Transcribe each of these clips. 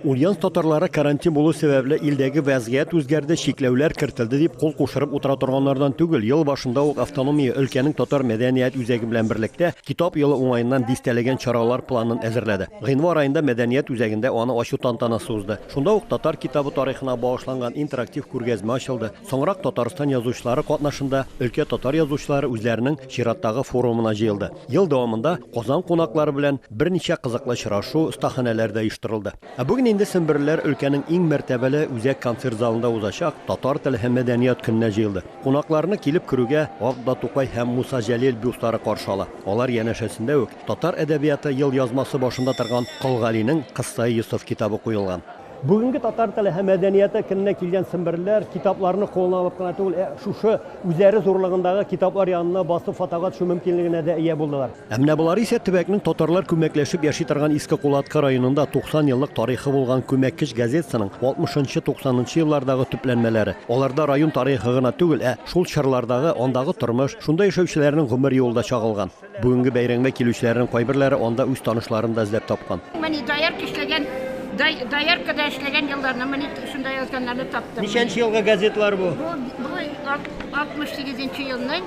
Ульян татарлары карантин булу сәбәпле илдәге вәзгыять үзгәрде, чикләүләр кертелде дип кул кушырып утыра торганнардан түгел. Ел башында ук автономия өлкәнең татар мәдәният үзәге белән берлектә Китап елы уңаеннан дистәләгән чаралар планын әзерләде. Гыйнвар аенда мәдәният үзәгендә аны ачу тантанасы узды. Шунда ук татар китабы тарихына багышланган интерактив күргәзмә ачылды. Соңрак Татарстан язучылары катнашында өлкә татар язучылары үзләренең чираттагы форумына җыелды. Ел дәвамында Казан кунаклары белән берничә кызыклы очрашу, остаханәләр дә оештырылды. Ә бүген инде семберлеләр өлкәнең иң мәртәбәле үзәк концерт залында узачак Татар теле һәм мәдәният көненә җыелды. Кунакларны килеп керүгә Атда Тукай һәм Муса Җәлил бюстлары каршы ала. Алар янәшәсендә үк татар әдәбияты елъязмасы башында торган Кол Галинең Кыссаи Йосыф китабы куелган. Бүгенге татар теле һәм мәдәнияте көненә килгән семберләр китапларны кулына алып кына түгел, ә шушы үзләре зурлыгындагы китаплар янына басып фотога төшү мөмкинлегенә дә ия булдылар. Ә менә болар исә төбәкнең татарлар күмәкләшеп яши торган Иске Кулаткы районында 90 еллык тарихы булган Күмәккеч газетасының 60 нчы, 90 нчы еллардагы төпләнмәләре. Аларда район тарихы гына түгел, ә шул чорлардагы, андагы тормыш, шунда яшәүчеләрнең гомер юлы да чагылган. Бүгенге бәйрәңмә килүчеләрнең кайберләре анда үз танышларын да эзләп тапкан. Мени доярка эшләгән, дояркада эшләгән елларны мени шунда язганнарны таптым. Ничәнче елгы газетлар бу? Бу, бу 68 нче елның.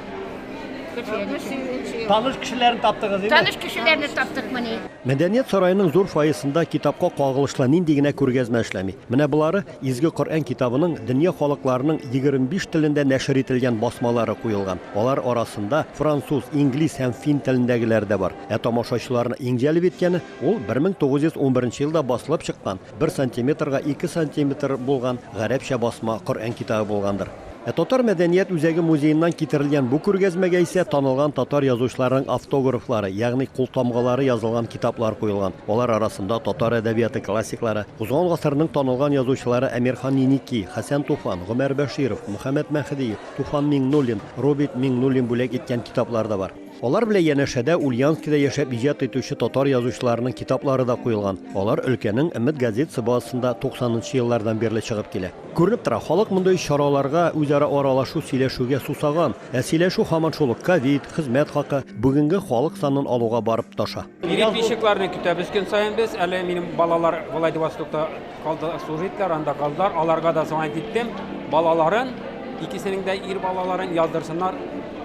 Таныш кешеләрне таптыгыз инде? Таныш кешеләрне таптык мени. Мәдәният сараеның зур фойесында китапка кагылышлы нинди генә күргәзмә эшләми. Менә болары Изге Коръән китабының дөнья халыкларының егерме биш телендә нәшер ителгән басмалары куелган. Алар арасында француз, инглиз һәм фин телендәгеләре дә бар. Ә тамашачыларны иң җәлеп иткәне, ул бер мең тугыз йөз унберенче елда басылып чыккан, бер сантиметрга ике сантиметр булган гарәпчә басма Коръән китабы булгандыр. Ә Татар мәдәният үзәге музееннан китерелгән бу күргәзмәгә исә танылган татар язучыларының автографлары, ягъни култамгалары язылган китаплар куелган. Алар арасында татар әдәбияты классиклары, узган гасырның танылган язучылары Әмирхан Еники, Хәсән Туфан, Гомәр Бәширов, Мөхәммәт Мәһдиев, Туфан Миңнуллин, Робит Миңнуллин бүләк иткән китаплар да бар. Алар белән янәшәдә Ульяновскида яшәп иҗат итүче татар язучыларының китаплары да куелган. Алар өлкәнең Өмет газетасы базасында 90 нчы еллардан бирле чыгып килә. Күренеп тора, халык мондый чараларга, үзара аралашу, сөйләшүгә сусаган. Ә сөйләшү һаман шул ук, ковид, хезмәт хакы, бүгенге халык санын алуга барып тоташа. Переписчикларны көтәбез көн саен без. Әле минем балалар Владивостокта калды служитлар, анда калдылар. Аларга да соңа киттем. Балаларын, икесенең дә ир балаларын яздырсыннар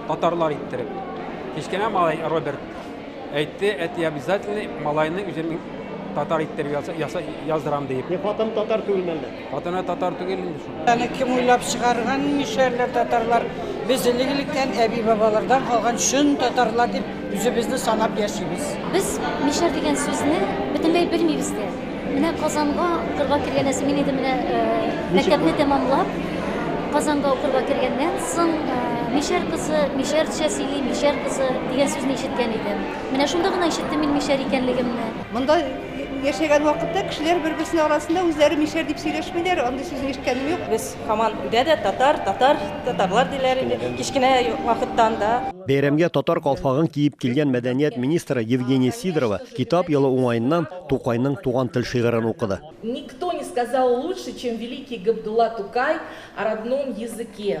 татарлар иттереп. Кечкенә малай Роберт әйтте, әти обязательно малайны үзем татар иттереп яздырам диеп. Хатын татар түгелме әллә? Хатыны татар түгел инде шул. Аны кем уйлап чыгарган нишәрләр татарлар? Без элек-электән әби-бабалардан калган чын татарлар дип үзебезне санап яшибез. Без мишәр дигән сүзне бөтенләй белмибез дә. Менә Казанга укырга кергәнәсе мин инде менә э, мәктәпне тәмамлап Казанга укырга кергәннән соң э, мишәр кызы, мишәрчә сөйли, мишәр кызы дигән сүзне ишеткән идем. Менә шунда гына ишеттем мин мишәр икәнлегемне. Монда Яшәгән вакытта кешеләр бер-берсенең арасында үзләре мишәр дип сөйләшмиләр, андый сүзне ишеткәнем юк. Без һаман өйдә дә татар, татар, татарлар диләр иде, кечкенә вакыттан да. Бәйрәмгә татар калфагын киеп килгән мәдәният министры Евгения Сидорова Китап елы уңаеннан Тукайның Туган тел шигырен укыды. Никто не сказал лучше, чем великий Габдулла Тукай о родном языке.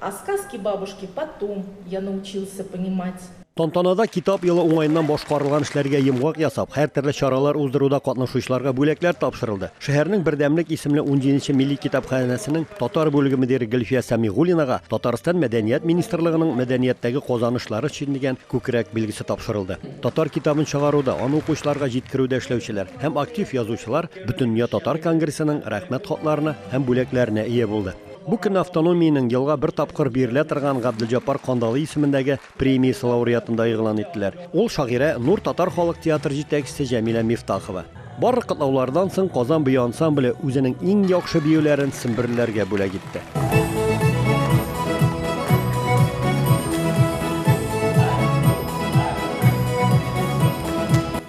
А сказки бабушки потом я научился понимать. Тантанада Китап елы уңаеннан башкарылган эшләргә йомгак ясап, һәртөрле чаралар уздыруда катнашучыларга бүләкләр тапшырылды. Шәһәрнең Бердәмлек исемле унҗиденче милли китапханәсенең татар бүлеге мөдире Гөлфия Сәмигуллинага Татарстан Мәдәният министрлыгының Мәдәнияттәге казанышлары өчен дигән күкрәк билгесе тапшырылды. Татар китабын чыгаруда, аны укучыларга җиткерүдә эшләүчеләр һәм актив язучылар Бөтендөнья татар конгрессының Рәхмәт хатларына һәм бүләкләренә ия булды. Бу көнне автономиянең елга бер тапкыр бирелә торган Габделҗапар Кандалый исемендәге премиясе лауреатын да игълан иттеләр. Ул, шагыйрә, Нур татар халык театры җитәкчесе Җәмилә Мифтахова. Барлык котлаулардан соң Казан бию ансамбле үзенең иң яхшы биюләрен семберлеләргә бүләк итте.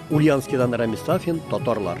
Ульяновскидан Рәмис Сафин, Татарлар.